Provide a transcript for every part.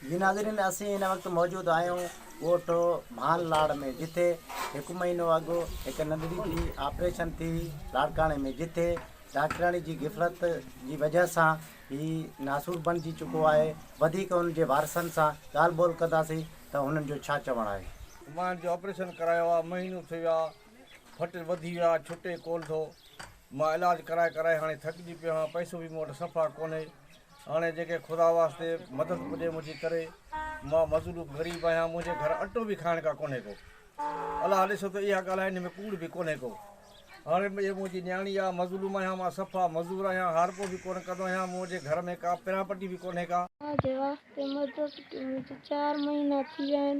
جي ناظرين اسين هن وقت موجود آهيون ڳوٺ ڀان لاڙ ۾ جتي هڪ مهينو اڳ هڪ ننڍڙي جي آپريشن ٿي هئي لاڙڪاڻي ۾ جتي ڊاڪٽرياڻي جي غفلت جي وجهه سان هي ناسور بڻجي چڪو آهي وڌيڪ هن جي وارثن سان ڳالهه ٻولهه ڪنداسين ته هنن جو ڇا چوڻ آهي. مان جو آپريشن ڪرايو آ مهينو ٿي ويو آ ڦٽ وڌي ويو آ ڇٽي ڪون ٿو. مان علاج ڪرائي ڪرائي هاڻي ٿڪجي پيو آهيان پئسو به مون وٽ صفا ڪونهي هاڻي جيڪي خدا واسطي مدد پڄي منهنجي ڪري مان مظلوم غريب آهيان منهنجي گهر اٽو به کائڻ ڪا ڪونهي ڪو الاهه ڏسو ته اها ڳالهه هن ۾ ڪوڙ به ڪونهي ڪو هاڻي به منهنجي نياڻي آهي مظلوم آهيان مان صفا مزور آهيان هارپو به ڪونه ڪندو آهيان منهنجي گهر ۾ ڪا پراپرٽي به ڪونهي ڪا منهنجي واسطي مدد ڪيو منهنجي چار مهينا ٿي ويا آهن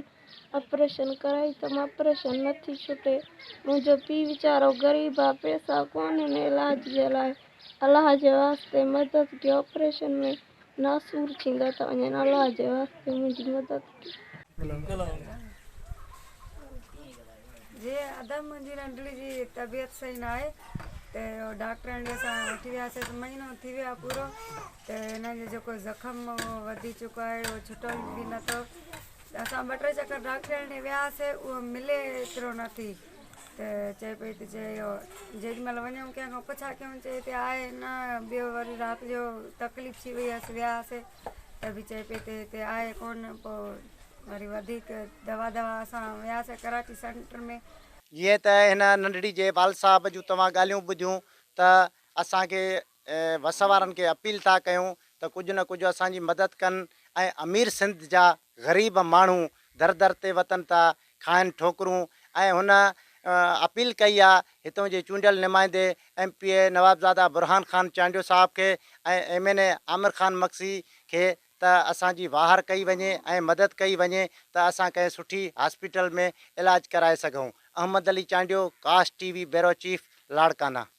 آپريشن ڪرائي ته آپريشن نه ٿي ڇٽي، منهنجو پيء ويچارو غريب آ، پئسا ڪونهن علاج جي لاء، الله جي واسطي مدد ڪيو، آپريشن ۾ ناسور ٿيندا ته وڃن، الله جي واسطي منهنجي مدد ڪيو. جي ادم منهنجي ننڍڙي جي طبيعت صحيح نه آهي ته ڊاڪٽرن ڏي اسان وٺي وياسي ته مهينو ٿي ويو آهي پورو ته هن جو جيڪو زخم هو وڌي چڪو آهي اهو ڇٽو به نه ٿو اسان ٻه ٽي چڪر ڊاڪٽرياڻي ڏي وياسي اهو ملي ايترو نه ٿي ته چئي پئي ته چئي اهو جيڏي مهل وڃون ڪنهن کان پڇا ڪيون چئي تي آهي نه ٻيو وري رات جو تڪليف ٿي وئي هيس وياسي ته به چئي پئي ته هتي آهي ڪون پو وري وڌيڪ دوا دوا اسان وياسي ڪراچي سينٽر ۾ جيئن ته هن ننڍڙي جي والد صاحب جون توهان ڳالهيون ٻڌيون ته اسان کي وس وارن کي اپيل ٿا ڪيون ته ڪجهه نه ڪجهه اسان جي مدد ڪن ۽ امير سنڌ جا غريب ماڻهو در در تي وتن ٿا کائن ٺوڪرون ۽ هن اپيل ڪئي آ هتون جي چونڊيل نمائندي M P A Nawabzada Burhan Khan Chandio صاحب کي ۽ M N A Amir Khan Magsi کي ته اسان جي واهر ڪئي وڃي ۽ مدد ڪئي وڃي ته اسان ڪنهن سٺي هاسپيٽل ۾ علاج ڪرائي سگهون احمد علي چانڊيو ڪاسٽ ٽي وي بيورو چيف لاڙڪانا.